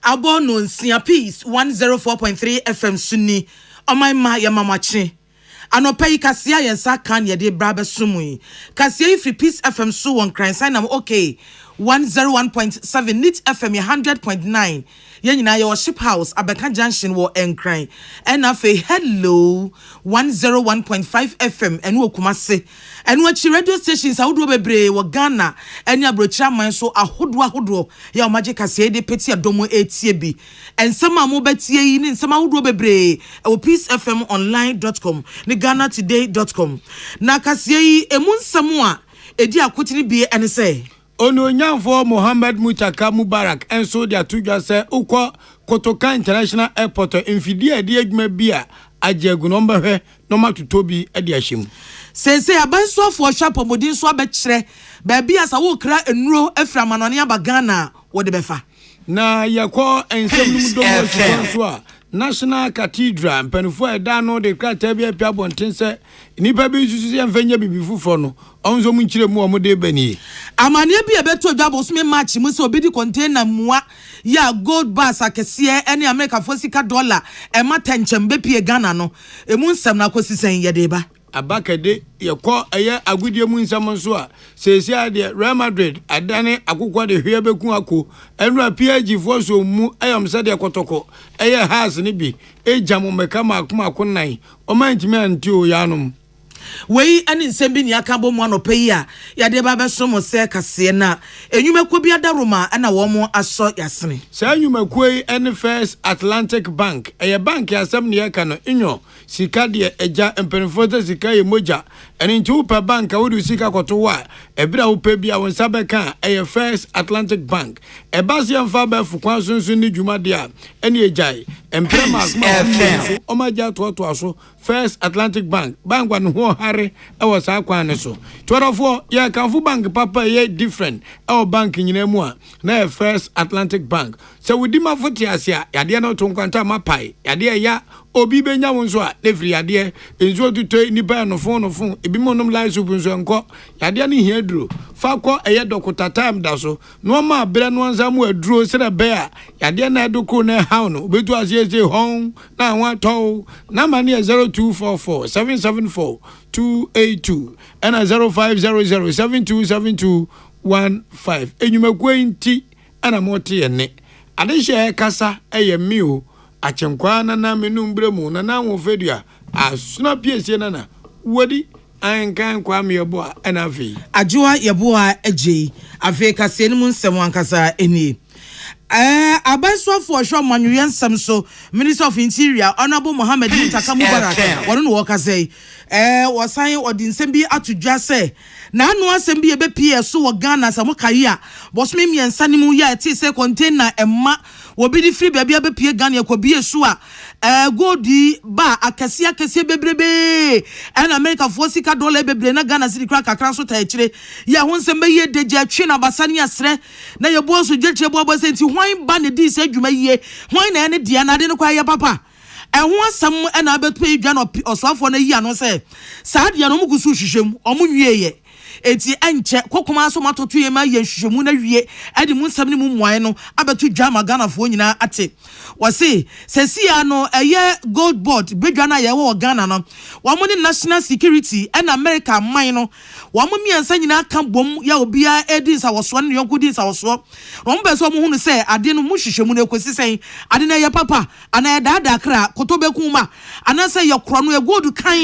Abɔ nonsia peace one zero four point three FM so ni ɔman ma yɛma mo akye anɔpa yi kaseɛ a yɛn nsa aka na yɛde bra bɛso mo yi kaseɛ yi firi peace FM so wɔ nkran sanam ok one zero one point seven nit FM yɛ hundred point nine yɛn nyinaa yɛwɔ ship house abɛka junction wɔ nkran ɛna afei hello one zero one point five FM ɛno wɔ kumase Ɛno akyi, radio stations ahodoɔ bebree wɔ Ghana ne aburokyire aman so ahodoɔ ahodoɔ yɛ a wɔagye kaseɛ yi de pete dɔm retie bi. Nsɛm a mobɛtie yi ne nsɛm ahodoɔ bebree wɔ peacefmonline dot com ne ghanatoday dot com. Na kaseɛ yi ɛmu nsɛm a ɛdi akotene bi ne sɛ. Onuonyamfoɔ Mohammed Muchaka Mubarak nso de ato dwa sɛ wokɔ Kotoka International Airport a, mfidie a ɛdi adwuma bi a agye agu no wɔbɛhwɛ na wɔatotɔ bi de ahyɛ mu. Seesei abansuafoɔ hwɛ apɔmuden so abɛkyerɛ baabi a sɛ worekra nnuro firi amanɔne aba Ghana a, wode bɛfa. Na yɛkɔ nsɛm no mu dɔm asukɔ nso a, National Cathedral mpanimfoɔ a ɛda ano de krataa bi apia abɔnten sɛ nnipa bi nsusu sɛ yɛmfa nyɛ biribi foforɔ no, wɔn nso wɔn nkyerɛmu a wɔde reba nie. Amanneɛ bi a ɛbɛtoo dwa bosome March mu sɛ obi de kɔntena mua yɛ a gold bars akɛseɛ ne Amerikafoɔ sika dɔla ɛma tɛnkyɛm bɛpue Ghana no, ɛmu nsɛm no akɔsi sɛn? Yɛde reba. Aba kɛde yɛkɔ ɛyɛ agodie mu nsɛm nso a, seesei ara deɛ Real Madrid adane akokɔ de hweɛ bɛku ako, ɛnora PSG foɔ nso mmu ayam sɛdeɛ kɔtɔkɔ ɛyɛ Haas no bi gyam mmɛka mmaako mmaako nnan, wɔn antumi ante o, yaanom. Wei ne nsɛm bi ne yɛaka abɔ mu anɔpa yi a yɛde reba abɛso mo sɛ kaseɛ na nnwumakuo bi ada Roma na wɔn asɔ yɛasene. Saa nnwumakuo yi ne First Atlantic Bank, ɛyɛ bank asɛm ne yɛreka no, nyo. Sika deɛ agya mpaninfoɔ sɛ sika yɛ mogya ɛno nti wopɛ bank a wode wo sika kɔto hɔ a ɛberɛ a wopɛ bia wo nsa bɛka a ɛyɛ first Atlantic bank ɛba sɛ yɛmfa aba afu kwan so nso nni dwuma deɛ a ɛne agyae mprɛ ma akoma wɔn mmiɛnfo wɔn agya atoatoa so first Atlantic bank bank wa ne ho ɔhare ɛwɔ saa kwan ne so nti ɔdɔfoɔ yɛkamfo bank papa ɛyɛ different ɛwɔ bank nyinaa mu a na yɛ first Atlantic bank Sɛ wudi mafo te ase a, yadeɛ no to nkwanta ma pae. Yadeɛ a ɛya obi bɛnya wo nso a, na ɛfiri yadeɛ. Nsuo totɔe, nnipa ɛnofo nofo, ebinom nom lye soup nso ɛnkɔ. Yadeɛ no hia aduro. Fa kɔ ɛyɛ dɔkota time da so. Noa ma abrɛ, noa nsa mu aduro sɛdeɛ ɛbɛyɛ a yadeɛ no a ɛdo koro no ɛhaw no wobɛtu aseɛ ɛsei hɔnn na ɛho atɔ wo. Number no yɛ 0244 774 282 ɛna 0500 727215. Nnwumakuo yi nti na mo te yɛ nne. Adehye a ɛkasa yɛ me o, Akyenkwaa nana me num brɛ mu nana Nwofadua a suna piesie nana Wadi ankan Kwame Yɛboa ɛna afei. Adwoa Yɛboa agyei afei kaseɛ no mu nsɛm ankasa nie eh Aban soafoɔ a ɔhwɛ ɔmanyɔyɛ nsɛm so Minister of Interior Honourable Mohammed Muntaka Mubarak wɔno na wɔkasa yi eh Wɔsan wɔde nsɛm bi ato dwa sɛ. Na ano asɛm bi a ɛbɛpue yɛ so wɔ Ghana, sɛ mokae a, bosome mmiɛnsa no mu yɛ a ɛtee sɛ container mma wɔ bi de firi baabi abɛpue Ghana yɛ kɔbue su a ɛɛ gold yi bar akɛseɛ akɛseɛ bebrebee ɛna Amerikafoɔ sika dɔla yɛ bebree na Ghana siri koraa kakra nso taa akyire yɛ ɛho nsɛm bɛyie de gya twe na abasa ne aserɛ na yɛboa so gyekyerɛ boaboa sɛ nti hwan ba na ɛdii saa dwuma yie hwan na ɛne dea na ade no koraa yɛ papa. Ɛho asɛm na abɛtumi adwa na ɔsoafoɔ no ayi ano sɛ, Saa deɛ no, wɔgu so rehwehwɛ mu, wɔnwieeɛ. Enti ɛnkyɛ, kokom ara sɛ wɔatoto yɛn ma ayɛ nhwehwɛmu no awie de mu nsɛm ne mu mmuaeɛ no abɛto dwa ama Ghanafoɔ nyinaa ate. Wɔse, seesei ara no, ɛyɛ Gold Board badwa no a yɛwɔ wɔ Ghana no, wɔne National Security ne Amerika man no, wɔn mmiɛnsa nyinaa ka bom yɛ obiara redi nsawɔsoɔ ne ne yɔnko redi nsawɔsoɔ, na wɔpɛ sɛ wɔhunu sɛ adeɛ no mu nhwehwɛmu no, ɛkɔsi sɛn, ade no yɛ papa? Anaa ɛdaadaa kra, koto bɛkum ma, anaasɛ yɛkorɔ no, ɛgu odu kann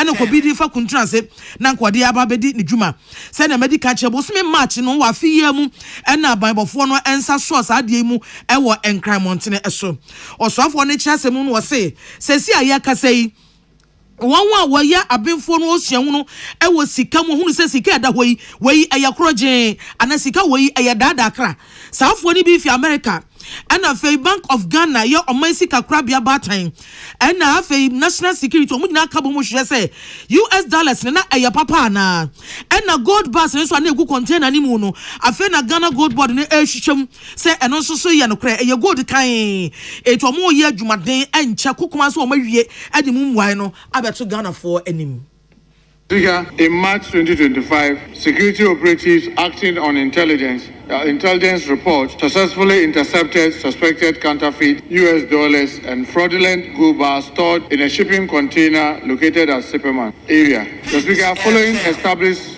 na ɛkɔ biri de fa kuntunu ase, na anka ɔde aba abɛdi ne dwuma. Sɛnea madi kan akyerɛ, bosome March no wɔ afe yi ara mu na abanbɔfoɔ no nsa sɔɔ saa adeɛ yi mu wɔ Nkran mmɔntene so. Ɔsoafoɔ no kyerɛ asɛm no mu no, ɔse, Seesei a yɛrekasa yi, Wɔn a wɔyɛ abenfoɔ no osuahunu wɔ sika mu, wɔhunu sɛ sika a ɛda hɔ yi, wei yɛ korɔgyee, anaa sika wei yɛ daadaa kra. Saafoɔ no bi fi Amerika, ɛna afei Bank of Ghana yɛ ɔman sika korabea baatan, ɛna afei National Security, wɔn nyinaa ka bom hwehwɛ sɛ US dollars no na ɛyɛ papa anaa. Ɛna gold bars no nso a na ɛgu container no mu no, afei na Ghana Gold Board no rehwehwɛ mu. sɛ ɛno nso so yɛ nokorɛ, ɛyɛ gold kann, enti wɔn reyɛ adwumaden ɛnkyɛ kokomaa sɛ wɔn awie ɛde mu mmuae no abɛto Ghanafoɔ anim. Sika, In March twenty twenty five, security operatives acting on intelligence intelligence reports successfully intercepted suspected counterfeit us dollars and fraudulent gold bars stored in a shipping container located at Sippeman area. The speaker, following established.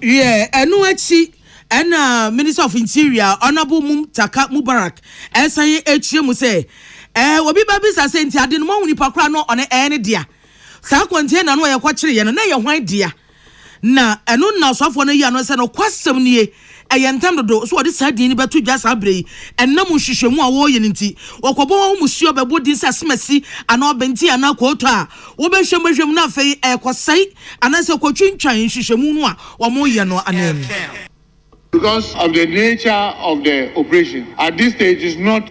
Wiɛ, ɛno akyi na Minister of Interior, Honorable Mumtaka Mubarak, ɛsan yɛ akyerɛ mu sɛ, ɛɛ obi bɛbisa sɛ nti ade no mahu nipa koraa no ɔne ɛɛ ne dea. Saa container no a yɛkɔkyereeɛ no, na ɛyɛ hwan dea? Na ɛno na ɔsɔfoɔ no ayi ano sɛ nokwasɛm nie. Ɛyɛ ntɛm dodo nso a wɔde saa din no bɛto dwa saa bere yi. Ɛnam nhwehwɛmu a wɔreyɛ no nti, wɔkɔbɔ wɔn mmusua bɛbɔ din sɛ Asemasi anaa Ɔbɛnti anaa Kooto a wobɛhwɛ mu ahwɛ mu na afei ɛrekɔsɛe anaasɛ ɛkɔtwintwan nhwehwɛmu no a wɔreyɛ no ananmu. Because of the nature of the operation, at this stage it is not.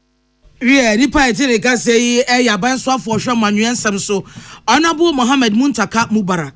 Wiɛ, nnipa a ɛte ne nka sɛɛ yi yɛ aban so afɔɔhwɛ mo anweɛnsɛm so, Honourable Mohammed Muntaka Mubarak.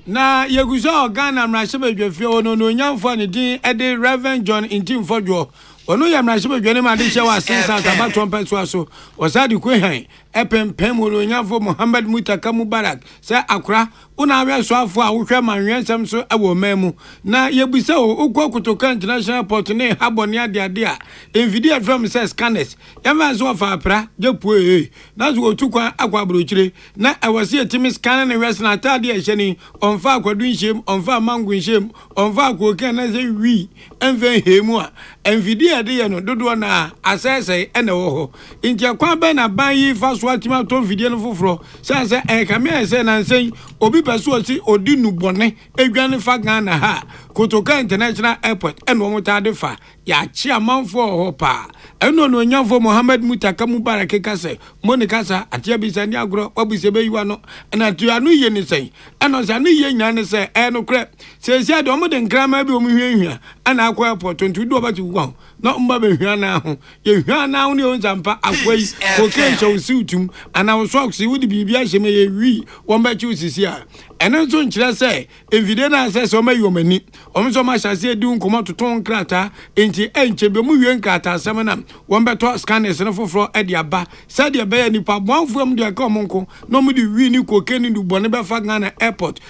Na yɛgusa wɔ Ghana mmarahyɛbadwafie hɔ no onuonyamfoɔ a ne din de Rev. John Nti Mfɔdwoɔ, ɔno yɛ mmarahyɛbadwani ma adehyeɛ wɔ Asen South abatoɔ mpɛsoa so, ɔsaa de kuo hann pempem onuonyamfoɔ Mohammed Muntaka Mubarak sɛ akora Wo na ahwɛ soafoɔ a wohwɛ amanhwɛnsɛm so wɔ ɔman mu. Na yɛbisa o, wokɔ Kotoka International Airport ne Habɔ ne adeade a, mfidie a yɛfrɛ mo sɛ scanners, yɛmfa nsɛ wɔfa apra gye puee, nanso wɔtu kwan akɔ abrokyire. Na ɛwɔ sɛ yɛtumi scanne no hwɛ sene ataadeɛ a ɛhyɛ no yi, ɔmfaa kwadu nhyɛm, ɔmfaa mango nhyɛm, ɔmfaa kookee anaasɛ wii, Mfa nhwɛmu a, mfidie a yɛde yɛ no dodoɔ no ara asɛesɛe na ɛwɔ hɔ. Enti ɛkwan bɛn na aban yi fa so atumi atɔ mfidie no foforɔ? Sane sɛ ɛrekame ayɛ sɛ nnansa yi obi pɛ sɛ ɔsi ɔde nnubɔne dwane fa Ghana ha a, Kotoka International Airport na wɔtaa de fa. Yɛakye amanfoɔ wɔ hɔ paa. Ɛna onuonyamfoɔ Mohammed Mutaka Mubarak ka sɛ, Mo ne kasa, ate abisa ne agorɔ, woabu sɛ ɛbɛyi w'ano. Ɛna ate ano yie ne sɛn? Ɛna ɔse ano yie nyinaa ne sɛ ɛyɛ nokorɛ. Seisei de ɔmo de nkraman bi ɔmo hwiahwia ɛna akɔ airport tonto wodeɛ ɔba te waw na ɔmo ba bɛ hwia naa ho yɛ hwia naa ho ne yɛhu sampa akoa yi cocaine hyɛ wo suit mu anaa wo socks yi wode biribi ahyɛ mu ɛyɛ wii wɔn bɛkye wo sisi a ɛno nso nkyerɛ sɛ mfidie no asɛ sɛ ɔmo ayi ɔmo ani ɔmo nso ɔmo ahyɛ aseɛ di wo nkɔmɔ toto wo nkrataa nti ɛnkyɛ bi ɔmo wie nkrataa sɛm na wɔn bɛtɔ scanners no foforɔ ɛde aba sɛdeɛ ɛbɛyɛ nipa boanfoɔ mu deɛ ɛka ɔmo nko na ɔmo de wii ne cocaine ne dubɔne bɛfa Ghana airport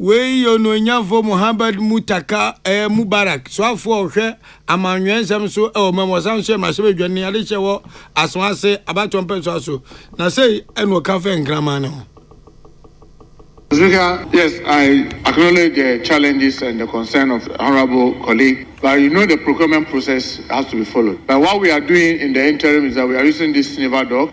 Wei yɛ onuonyamfoɔ Muhammad Mutaka eh, Mubarak, soafoɔ a ɔhwɛ amanyɔɛnsɛm so wɔ mɛm ɔsan so yɛ mmarahyɛbadwani ne adehyɛ wɔ aso ase abatoɔ mpɛsoa so na sɛi ɛna ɔka fɛ nkraman ne ho. Speaker, yes, I acknowledge the challenges and the concern of honorable colleague, but you know the procurement process has to be followed. But what we are doing in the interim is that we are using this sniffer dog.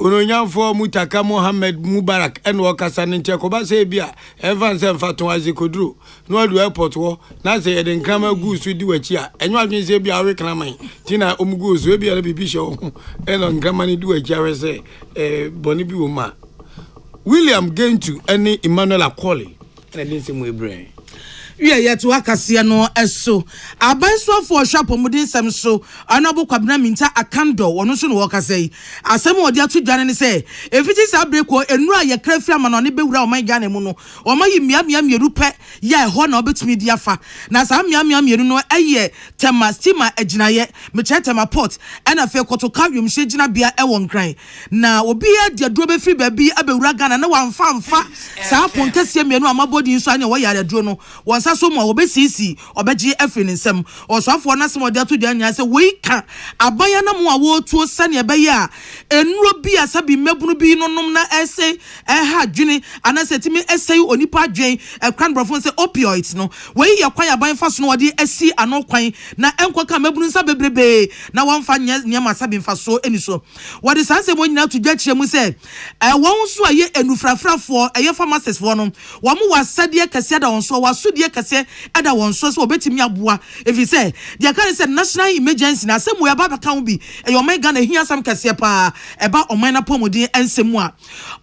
Onuonyamfoɔ Mutaka Mohammed Mubarak na ɔkasa no nti ɛkɔba sɛ ebia ɛmfa no sɛ mfatoadze kɔduro na ɔdu airport hɔ na sɛ yɛde nkraman gu wo so di w'akyi a ɛnyɛ w'adwene sɛ ebia wowe kraman nti na wɔgu wo so ebia na biribi hyɛ wo ho na nkraman no di w'akyi ahwɛ sɛ bɔne bi wɔ mu a William Gentu ne Emmanuel Akoli na ne nsɛm mu ɛbrɛ. Wiɛ yɛto akaseɛ no so. Aban suafoɔ ɔhwɛ apɔmudensɛm so Honourable Kwabena Mintah Akandor wɔno nso na wɔkasa yi. Asɛm a ɔde ato dwa no ne sɛ ɛfiti saa berɛ kɔ nnuro a yɛkra firi amanɔne bɛwura ɔman Ghana mu no wɔayi mmeammea mmienu pɛ yɛ a ɛhɔ na wɔbɛtumi de afa. Na saa mmeammea mmienu no yɛ Tema steamer agyinaeɛ, Mekyɛ Tema port, ɛna afei Kotoka wiemhyɛn gyinabea wɔ Nkran. Na obiara de aduro bɛfiri baabi abɛwura Ghana na wamfa amfa saa aponkɛseɛ mmienu a mabɔ din so ara ne ɔwɔ yare aduro no wɔ nsa so mu a, wɔbɛsiisii ɔbɛgye afiri ne nsam. Ɔsoafoɔ no asɛm a ɔde ato dwa nyinaa sɛ wei ka aban anamo a wɔretuo sɛdeɛ ɛbɛyɛ a nnuro bi a sɛbe mmabunu bi nonom na ɛsɛ ɛha adwene anaasɛ ɛtumi sɛe onipa adwene, ɛkora no borɔfo no sɛ opioids no. Wei yɛ kwan a aban fa so na wɔde asi ano kwan na ɛnkɔka mmabunu nsa bebrebee na wɔmfa nyɛ nneɛma a sɛbe mfasoɔ nni so. Wɔde saa nsɛm wɔ nyinaa to dwa kyerɛ mu sɛ wɔn nso a ɛyɛ anufrafrafoɔ, ɛyɛ pharmacist foɔ no, wɔn wɔ asɛdeɛ kɛseɛ ada wɔn soɔ, wɔ asodeɛ kɛseɛ da wɔn soɔ sɛ wɔbɛtumi aboa, ɛfiri sɛ deɛ ɛka ne sɛ national emergency no asɛm wei aba abɛka ho bi, ɛyɛ ɔman Ghana ɛhia asɛm kɛseɛ paa ɛba ɔman no apɔmuden nsɛm mu a.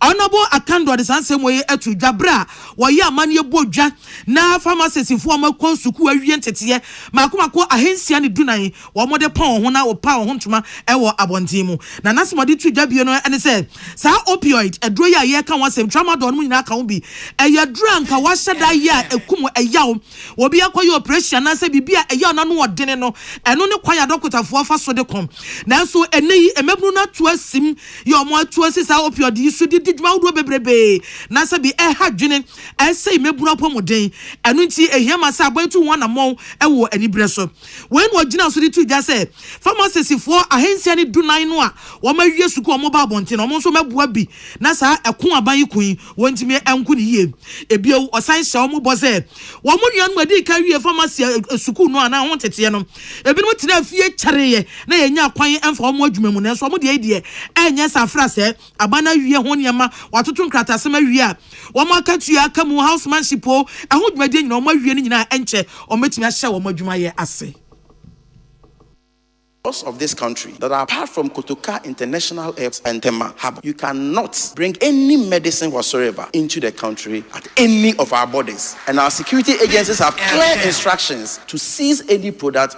Honourable Akandor de saa nsɛm wei to dwa berɛ a wɔyɛ amanneɛ bɔ dwa na pharmacist foɔ a wɔakɔ sukuu awie nteteɛ mmaako mmaako ahansia ne du nan Wɔde pɔn wɔn ho na wɔpa wɔn ho ntoma wɔ abɔnten mu. Na n'asɛm a ɔde too dwa bio no ne sɛ, Saa opioid aduro yi a yɛreka ho asɛm, tramadol no mu nyinaa ka ho bi. Ɛyɛ aduro a anka wɔahyɛ da yɛ a ɛkum ɛyaw. Obi akɔyɛ oprehyɛn anaasɛ biribi a ɛyaw no ano wɔ dene no, ɛno ne kwan a adɔkotafoɔ fa so de ko. Nanso ɛnnɛ yi, mmabunu no atu asim yɛ wɔn atu asi saa opioid yi so de di dwuma ahodoɔ bebrebe, na sɛbe ɛha adwene, ɛsɛe mmabunu apɔmuden. Ɛno nti, ɛhia ma sɛ abɔe tu ho anammɔn wɔ aniberɛ so. Wei na ɔgyinaa so de too dwa sɛ famasisifoɔ ahansia ne du-nan no a wɔawie sukuu a wɔba abɔnten no, wɔn nso wɔbɛboa bi na saa ɛko aban yi ko yi wɔntumi nko no yie. Bio, ɔsan hyɛɛ wɔn bɔ sɛ wɔn nuanom a ɛdii kan wiee famasi sukuu no anaa ho teteɛ no, ebinom tenaa fie kyɛreeɛ na yɛnyaa kwan mfa wɔn adwuma mu nanso wɔn deɛ yi deɛ ɛnyɛ saa frasɛɛ. Aba no awie ho nneɛma, wɔatoto nkratasɛm awie a, wɔn akatua aka mu, housemanship o, ɛho dwumadie nyinaa, wɔn awie no nyinaa a, ɛnkyɛ wɔbɛtumi ahyɛ wɔn adwumayɛ ase. Laws of this country that apart from Kotoka International Airport and Tema Harbour, you cannot bring any medicine whatsoever into the country at any of our borders and our security agencies have clear instructions to seize any product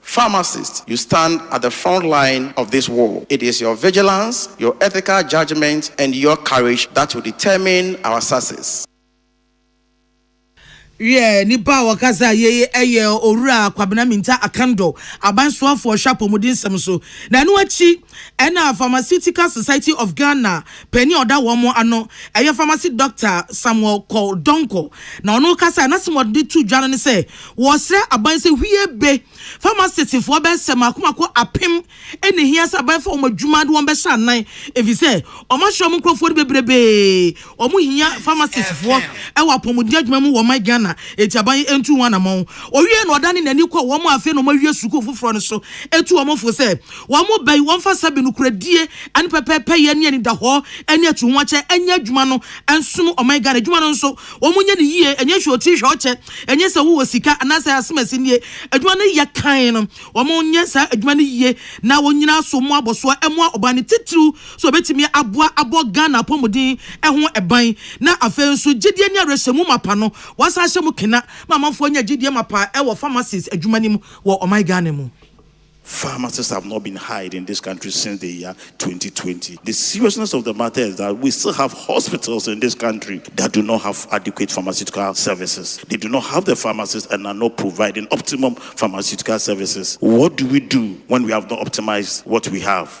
Pharmacist, you stand at the front line of this war. It is your vigilance, your ethical judgement and your courage that will determine our success. Yɛ nipa a ɔkasa yei yɛ Owura Kwabena Mintah Akandor, Aban Soafoɔ Ɔhwɛ Apɔmuden Nsɛm So, na ɛno akyi Ɛna Pharmaceutical Society of Ghana panyin a ɔda wɔn ano yɛ Pharmacy Doctor Samuel Kor Donkor na ɔno kasa a n'asɛm a ɔde to dwa no ne sɛ wɔresrɛ aban sɛ hwie be Pharmacistfoɔ bɛyɛ sɛ mako mako apem na ehia sɛ aban fa wɔn adwuma de wɔn bɛhyɛ anan efisɛ wɔahyira wɔn nkurɔfoɔ no bebrebee Wɔhia pharmacistfoɔ wɔ apɔmuden adwuma mu wɔ ɔman Ghana enti aban yi ntu ho anamɔn. Ɔwiee no ɔdane n'ani kɔ wɔn a afei na wɔawie sukuu foforɔ no so tu wɔn fo sɛ wɔn ba yi wɔmfa sɛ bi nokorɛdie ne pɛpɛɛpɛyɛ ne anidahɔ ne atuhoakyɛ nyɛ adwuma no nsom ɔman Ghana. Adwuma no nso wɔnyɛ no yie, ɛnyɛ hwɛ ɔtiri hwɛ ɔkyɛ, ɛnyɛ sɛ wowɔ sika anaasɛ asomasi nie, adwuma no yɛ kann no wɔnyɛ saa adwuma no yie na wɔnyina so mmoa abɔsoɔ mmoa ɔban no titiriw So obetumi aboa abɔ Ghana apɔmuden ho ban? Na afei nso, gyedie ne awerɛhyɛmu mapa no, wɔasan ahyɛ mu kena ma amanfoɔ anya gyedie mapa wɔ pharmacies adwuma no mu wɔ ɔman Ghana mu. Pharmacists have not been hired in this country since the year twenty twenty. The seriousness of the matter is that we still have hospitals in this country that do not have adequate pharmaceutical services. They do not have the pharmacists and are not providing optimum pharmaceutical services. What do we do when we have not optimised what we have?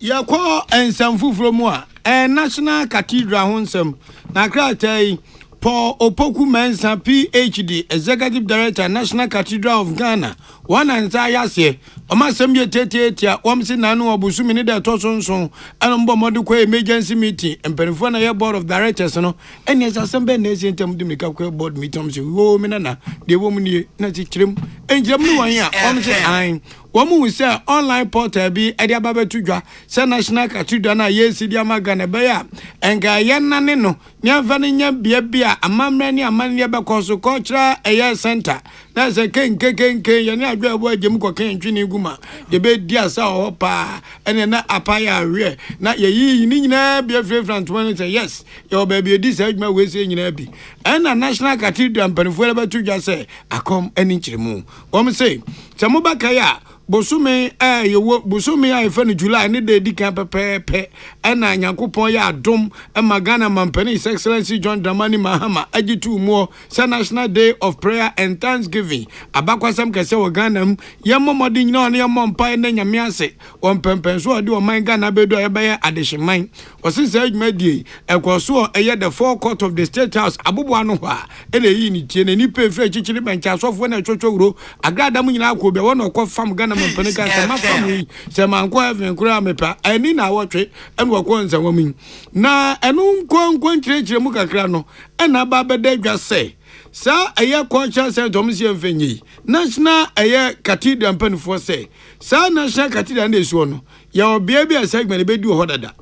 Yɛkɔ nsɛm foforɔ mu a, ɛyɛ National Cathedral ho nsɛm. Na krataa yi, Paul Opoku Mensah, PhD, Executive Director, National Cathedral of Ghana, wɔn na nsa ayɛ aseɛ. Wɔn asɛm yɛ tiatiatia, wɔn se nano wɔ bosome ne da ɛtɔ so nson ɛna wɔn bɔ mmɔde kɔ emergency meeting, mpaninfoɔ na ɛyɛ Board of Directors no, ɛneɛ sɛ asɛm bɛn na ɛsi nti a wɔde mirika kɔyɛ Board meeting, wɔn se hoo me nana, deɛ ɛwɔ mu nie, na se kyerɛm, nkyerɛm ne wɔn a, wɔn se aane, Wɔhu sɛ online portal bi de aba bɛto dwa sɛ National Cathedral no a yɛresi de ama Ghana ɛbɛyɛ a nka yɛnnane no na yɛmfa no nyɛ bea bi a amammerɛ ne amanneɛ bɛkɔ so, cultural ɛyɛ center, na sɛ kenkekenken yɛne adwo a ɛwɔ agya mu kɔka ntwene gu ma yɛbɛdi asa wɔ hɔ paa ɛne na apa yɛ ahweɛ na yɛyiyi ne nyinaa bi afirafira ntoma no sɛ yes yɛwɔ baabi ɛdi saa adwuma wei sɛ nyinaa bi ɛna National Cathedral mpanimfoɔ no bɛto dwa sɛ akɔm ne nkyerɛmu Wɔn se, Sɛ mobɛkae a, bosome a yɛwɔ, bosome a yɛfɛ no July ne da edi kan pɛpɛɛpɛ ɛna Nyankopɔn yɛ adom ma Ghana Mampanin His Excellency John Dramani Mahama agye too muɔ sɛ National Day of Prayer and Thanksgiving, abakwasɛm kɛseɛ wɔ Ghana mu. Yɛmmɔ mmɔden nyina hɔ na yɛmmɔ mpaeɛ nnɛ Nyame ase wɔ mpɛmpɛnsoɔ a ɔde ɔman Ghana abɛdu a yɛbɛyɛ adehyeman. Ɔse saa dwumadie yi ɛkɔɔ so wɔ ɛyɛ the four court of the state house aboboano hɔ a ɛna ɛyii ne tie na nnipa ɛfiri akyikyiri bɛnkyɛ asɔfoɔ ne ɛtwɔtwɔ wuro agrada mo nyinaa kɔɔ bia wɔna ɔkɔ fam Ghana mampanin kaa sɛ mafa mo yi sɛ mankɔ heaven koraa a mepɛ a ɛni naawɔtwe ɛna ɔkɔɔ nsawam yi na ɛno nkoa nkoa nkyerɛkyerɛ mu kakra no ɛna aba abɛda dwa sɛ saa ɛyɛ culture center ɔmo sɛ yɛmfa nyɛ yi national ɛyɛ cathedral mpanifoɔ sɛ saa national cathedral na ɛsi hɔ no Yɛwɔ bea bi a segment no bedi wɔ hɔ dada.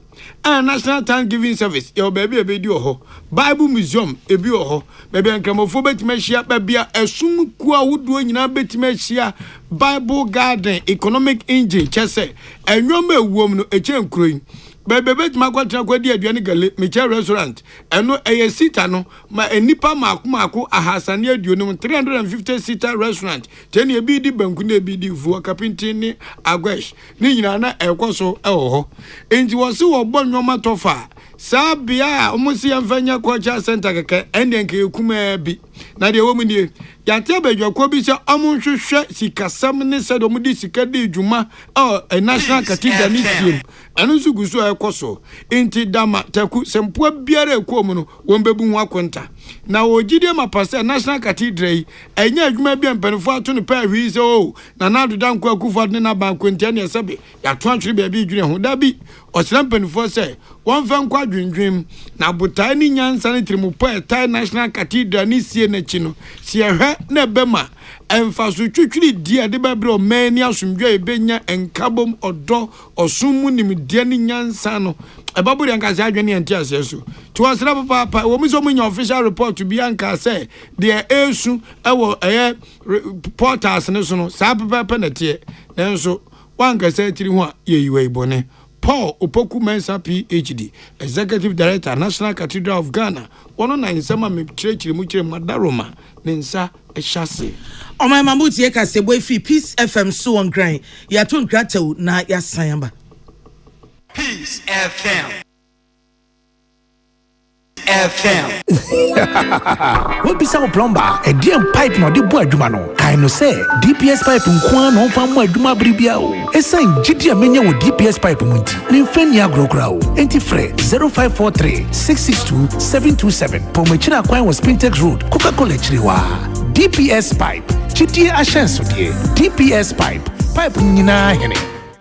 Ɛna National Thanksgiving Service, yɛwɔ baabi a ebedi wɔ hɔ. Bible Museum, ebi wɔ hɔ. Baabi a Nkramofo betumi ahyia, baabi a ɛsom kuw ahodoɔ nyinaa betumi ahyia, Bible Garden, Economic Engine, kyerɛ sɛ, nneɛma a ɛwom no, ɛkyɛn kuro yi. Baabi a ebetumi akɔtena akɔdi aduane Gale, Michel Restaurant, ɛno, ɛyɛ seater no ma nnipa mmaako mmaako ahasa ne aduonum, 350 seater restaurant, kyerɛ nea ebi redi banku na ebi redi fufu wɔ Kapintin ne Aguesh. Ne nyinaa na ɛrekɔ so wɔ hɔ. Enti wɔse wɔbɔ nnoɔma tɔ fa saa bea a wɔse yɛmfa nyɛ cultural centre kɛkɛ, ɛndeɛ nka ɛyɛ kumaa bi. Na deɛ ɛwɔ mu nie, yɛate abadwakuo bi sɛ wɔnhwehwɛ sikasɛm ne sɛdeɛ wɔde sika di dwuma wɔ National Cathedral no sie mu. Ɛno nso gu so rekɔ so. Enti Dama, Taku, Sempoa biara a ɛkuo mu no, wɔbɛbu ho akonta. Na wɔwɔ gyidie mapa sɛ National Cathedral yi, Ɛnyɛ adwuma bi a mpanyimfo ato no pɛ ahwii sɛ, oh, Nana Addo Dankwa Akufo-Addo ne n'aba akwantia nea ɛsɛ be yɛato atwere baabi redwene ho. Dabi, ɔsrɛ mpanyimfoɔ sɛ wɔmfa nkɔ adwendwenem, na botae ne nyansa ne tirimupɔ a ɛtae National Cathedral ne sie no akyi no, sɛ yɛhwɛ na ɛbɛma mfaso twitwiridie a ɛde bɛbrɛ ɔman ani asomdwoe a yɛbɛnya, nkabom, ɔdɔ, ɔsom mu nimdeɛ ne nyansa no ɛbɛboro yɛn ankasa adwene ne yɛn nteaseɛ so. Nti wɔsrɛ papaapa. Ɛwɔ mu sɛ wɔnnya official report biara nkaa sɛ Deɛ ɛresu wɔ ɛyɛ portals no so no, saa pɛpɛɛpɛ na ɛteɛ. Nanso, woankasa akyiri ho a, yɛyi wo ayi bɔne. Paul Opoku Mensah, PhD, Executive Director, National Cathedral of Ghana, ɔno na nsɛm a mekyerɛkyerɛ mu kyerɛ mu Adaroma ne nsa hyɛ ase. Ɔman ma motie kaseɛbɔ yi firi Peace FM so wɔ Nkran. Yɛato nkratawu na yɛasan aba. Peace FM. FM. Wabisa wo plumber a, ɛdeɛn pipe na ɔde bɔ adwuma no? Kae no sɛ, DPS pipe nko ara na ɔmfa mmɔ adwuma bere biara o. Ɛsiane gyidie a manya wɔ DPS pipe mu nti, memfa nni agorɔ koraa o. Enti frɛ 0543 662 727. Pɔw m'akyiri akwan wɔ Spintex Road, Coca-Cola akyiri hɔ ara. DPS pipe, gyidie ahyɛnsodeɛ. DPS pipe, pipe nyinaa hene.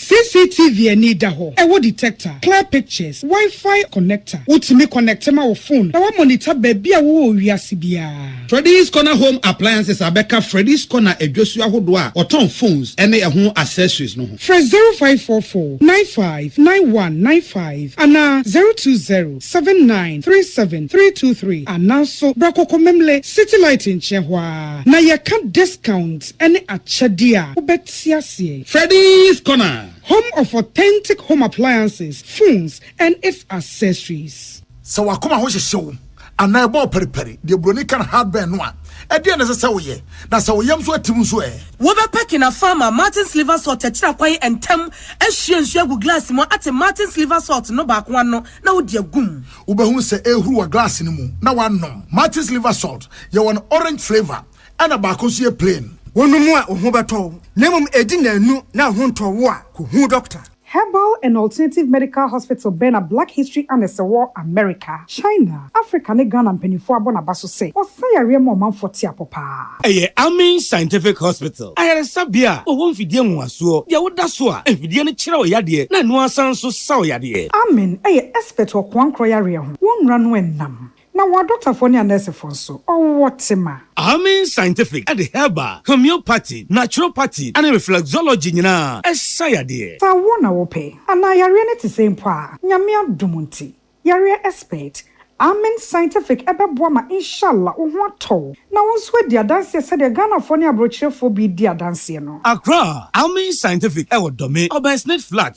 CCTV ani da hɔ, ɛwɔ detector, clear pictures, Wi-Fi connector, wotumi connect ma wo phone na woamonitor baabi a wowɔ wɔ wiase biara. Freddy's Corner Home Appliances a bɛka Freddy's Corner adwosuo ahodoɔ a wɔtɔn phones ne ɛho accessories no ho. Frɛ zero five four four nine five nine one nine five anaa zero two zero seven nine three seven three two three anaa nso bra Kɔkɔmemle City Light nkyɛn hɔ ara na yɛka discount ne akyɛdeɛ a wobɛ te aseɛ. Freddy's Corner. Home of authentic home appliances, phones and its accessories. Sɛ w'akoma ho hyehye wo anaa ɛbɔ wo pɛrepɛre, deɛ Buroni ka no heartburn no a, ɛdeɛn na ɛsɛ sɛ woyɛ? Na sɛ wo yam nso atim nso ɛ? Wobɛpaki na fa ama Martin's Liver Salt akyiri akwan ntɛm, ahwie nsuo agu glass mu, ate Martin's Liver Salt no baako ano, na wode agum. Wobɛhunu sɛ ɛrehuru wɔ glass no mu na woanom. Martin's Liver Salt yɛ wɔn orange flavour ɛna baako nso yɛ plain. Wɔnom mu a wo ho bɛtɔ wo na mmom ɛdi nnaanu na wo ho ntɔ wo a, kɔ hu dɔkta. Herbal and Alternative Medical Hospital bɛn na Black History Annexes wɔ Amerika, China, Afrika ne Ghana mpanyimfo abɔ n'aba so sɛ ɔsa yareɛ ma ɔmanfoɔ te apɔ paa? Ɛyɛ Amin Scientific Hospital, ayaresabea a wɔwɔ mfidie nwanwasoɔ, deɛ woda so a mfidie no kyerɛ wo yadeɛ na ɛno ara san nso sa wo yadeɛ. Amin yɛ expert wɔ koankorɔ yareɛ ho, wɔn nnura no nnam. na wɔn adɔtafoɔ ne anɛɛsefoɔ nso, wɔwɔ tema. Amin Scientific de herbal, homeopathy, naturopathy, ne reflexology nyinaa sa yadeɛ. Sɛ wo na wopɛ, anaa yareɛ no te sɛɛ mpo a, Nyame adom nti, yareɛ expert, Amin Scientific bɛboa ma inshallah wo ho atɔ wo, na wo nso adi adanseɛ sɛdeɛ Ghanafoɔ ne aborɔkyerefoɔ bi redi adanseɛ no. Accra, Amin Scientific wɔ Dome, Urban Snake Flat.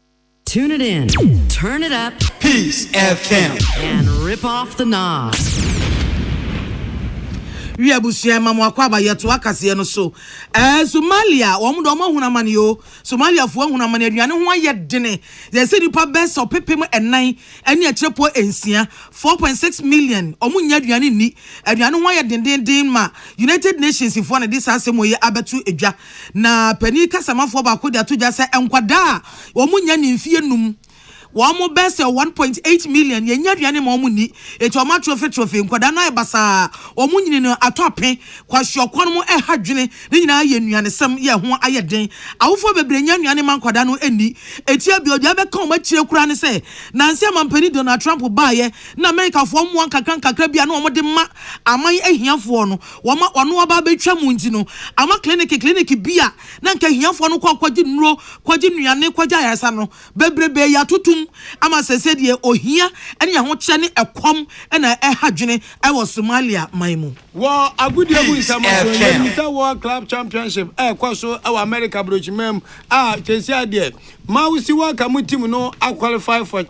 Tune it in, turn it up, Peace FM, and rip off the knobs. wi abusua ɛma mo akɔ aba yɛto akaseɛ no so ɛɛ somalia wɔn de wɔn ahun amane o somaliafoɔ ahun amane aduane ho ayɛ dene yɛ sɛ nipa bɛɛ sɛ ɔpepem ɛnan ɛne akyerɛpoɔ nsia four point six million wɔn nyɛ aduane nni aduane ho ayɛ dendenden ma united nations foɔ na de saa asɛm wɔ yɛ abɛto edwa Na panin kasamafoɔ baako de ato dwa sɛ nkwadaa a wɔn nya ne mfie nnum wɔn bɛ sɛ one point eight million yɛnya aduane ma wɔn nni eti wɔn atrofe trofe nkwadaa no ayɛ basaa wɔn nyini no atɔ ape kwasiɔkwan mu ɛha dwene ne nyinaa yɛ nnuanesɛm yɛ ho ayɛ den awofoɔ bebree nya nnuane ma nkwadaa no nni eti abia ɔde abɛka wɔn akyire koraa ne sɛ nansi ama mpanin Donald Trump baayɛ na Amerikafoɔ mmoa nkakra nkakra bi a na wɔn de ma aman ahiafoɔ no Wɔama wɔn aba abɛtwa mu nti no, ama kliniki kliniki bi a na anka ahiafoɔ no kɔ kɔgye nnuro, kɔgye nnuane, kɔgye ayaresa no, bebrebe yɛ atotom ama seesei deɛ ohia ne ahokyerɛ ne ɛkɔm na ɛha dwene wɔ Somalia man mu. Wɔ agodie mu nsɛm so, yɛnim sɛ World Club Championship rekɔ so wɔ Amerika Aburokyiman mu a seesei deɛ Mausi Walker mu team no a qualify for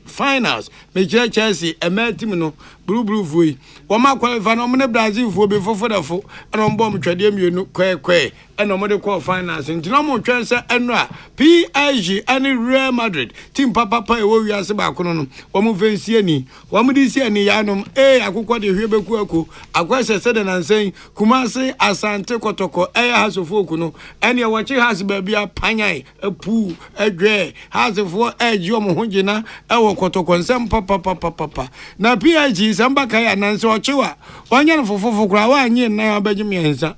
finals, mekyerɛ Chelsea mmaa team no, Bluebrewfoɔ yi. Wɔn a qualify no wɔn ne Brazilfoɔ bi Fofodafo na wɔn bɔɔ wɔn twɛdeɛ mmienu kwɛɛkwɛɛ na wɔn de kɔɔ finals nti na wɔn twɛn sɛ ɛno a PSG ne Real Madrid team papapa a ɛwɔ wiase baako no no wɔn nfɛ nsi ani wɔn de si ani yaanom ee akokɔ de hwɛ bɛku ako akɔ ɛsɛ sɛ denansa yi Kumase Asante Kɔtɔkɔ ɛyɛ Hasofoku no ɛneɛ wɔkye Has baabi a panyan puu dwɛɛ Hasefoɔ regye wɔn ho gyina wɔ kɔtɔkɔnsɛm papapapapa. Na PIC sɛ mba kae a na nsɛ ɔkyew a ɔnyɛ no fofofo koraa wannye nnan abɛgye mmiɛnsa.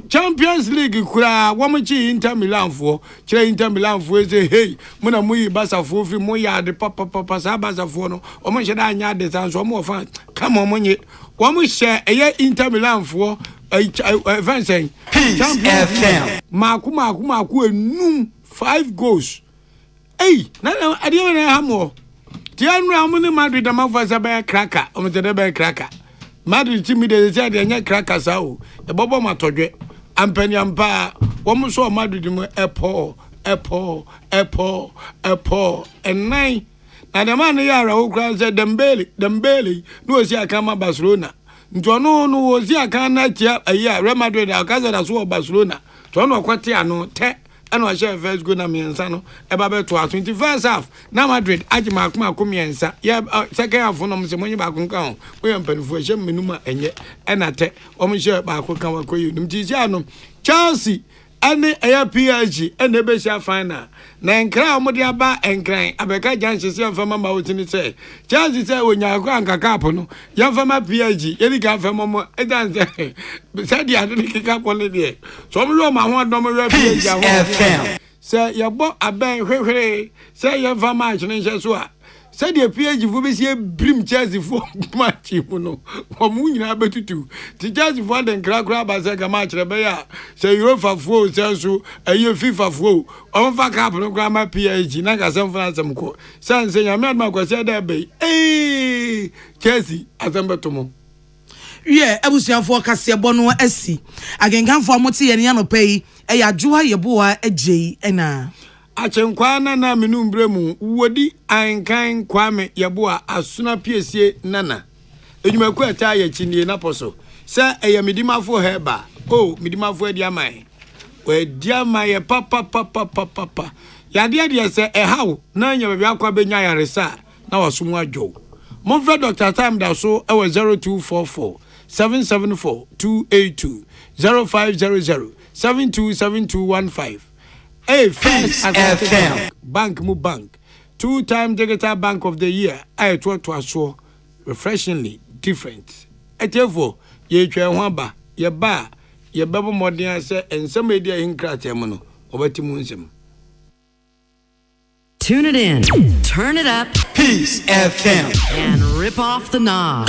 Champions League koraa wɔn kyee Inter Milanfoɔ kyerɛ Inter Milanfoɔ yi sɛ hei mo na mo yi Barcafoɔ firi mo yɛ ade papapapa saa Barcafoɔ no wɔn nhyɛ da nyɛ ade saa nso wɔn wɔ fans come wɔn nye Wɔn hyɛ ɛyɛ Inter Milan foɔ ɛfɛn sɛn champions league maako maako maako enum five goals eyi na adeɛ bɛ na ɛha moɔ ti ɛnura wɔn ne Madrid amanfoɔ sɛ bɛyɛ kraka wɔn sɛ dɛ bɛyɛ kraka Madrid ti mi de sɛ deɛ nyɛ kraka saa o ɛbɔbɔ wɔn atɔdwe ampanyampa wɔn nso wɔ Madrid mu ɛpɔ ɛpɔ ɛpɔ ɛpɔ ɛnan. Na dɛm a no yɛ awerɛhow koraa nye dɛ Dembele, Dembele yi, no oosiaa kan ma Barcelona. Ntsi ɔno no woosiaa kan no akyia ayi a, Real Madrid a, ɔkasa da so wɔ Barcelona. Ntsi ɔno na ɔkɔtse ano tɛ na ɔhyɛɛ first goal na mmiɛnsa no ba bɛtoaa so. Ntsi first half, na Madrid agye maako maako mmiɛnsa, yɛ second half no mese monye baako nka ho, moyɛ mpanyimfo, hyɛ menum a ɛnyɛ na tɛ, wɔhyɛɛ baako ka wɔakɔyɛ enum. Ntsi sesei ano, Chelsea ɛne ɛyɛ PSG na ɛbɛhyia final. Na nkra a wɔde aba Nkran abɛka junction sɛ yɛmfa ma Mawoti ne sɛ chance sɛ wɔnya akɔ anka cup no yɛmfa ma PSG yɛdi kan fam wɔn ɛdan sɛ sɛdeɛ ade no keka kɔ no deɛ sɛ wɔn yɛ wɔn ahoɔdɔm yɛ PSG ahoɔdɔm sɛ yɛbɔ abɛn hwehwere sɛ yɛmfa match no nhyɛ so a Sɛdeɛ PSG foɔ bɛsi abirim Chelsea foɔ match yi mu no, wɔn ho nyinaa bɛtutu. Nti Chelsea foɔ de nkra koraa aba sɛ nka match no ɛbɛyɛ a, sɛ Europa foɔ o, sɛ nso ɛyɛ FIFA foɔ o, wɔmfa cup no koraa ma PSG na nka asɛmfo no asɛm kɔ. Sane sɛ Nyame adom a Kwasi ɛda ɛbɛ yi, eeii! Chelsea asɛm bɛto mo. Wiɛ, abusuafoɔ kaseɛ bɔ no asi. Akenkanfoɔ a mote yɛn nne anɔpa yi, ɛyɛ adwoa yɛ boa gyei ɛna. Akyenkwaa Nana Menumberɛ mu wodi Ankan Kwame Yeboah Asona Piesie Nana Edwumakuo a ɛtaa yɛ kyinnie napɔ so sɛ ɛyɛ me dimafo hɛɛba oh me dimafo adiaman w'adiaman yɛ papapapapapa yadeɛ deɛ sɛ ɛha wo na anya baabi akɔ abɛnya ayaresa a na waso mu adwo wo momfrɛ Dr. Time da so ɛwɔ 0244 774 282 0500 727215 Ei First Asante Bank, bank mu bank, two time digital bank of the year a ɛtoatoa soɔ, refreshingly different. Atiefoɔ, yɛretwa yɛn ho aba, yɛba a, yɛbɛbɔ mmɔden ara sɛ nsɛm a ɛdi ahe nkrataa mu no, wɔbɛte mu nsɛm. Tune it in, turn it up, Peace FM, and rip off the knob.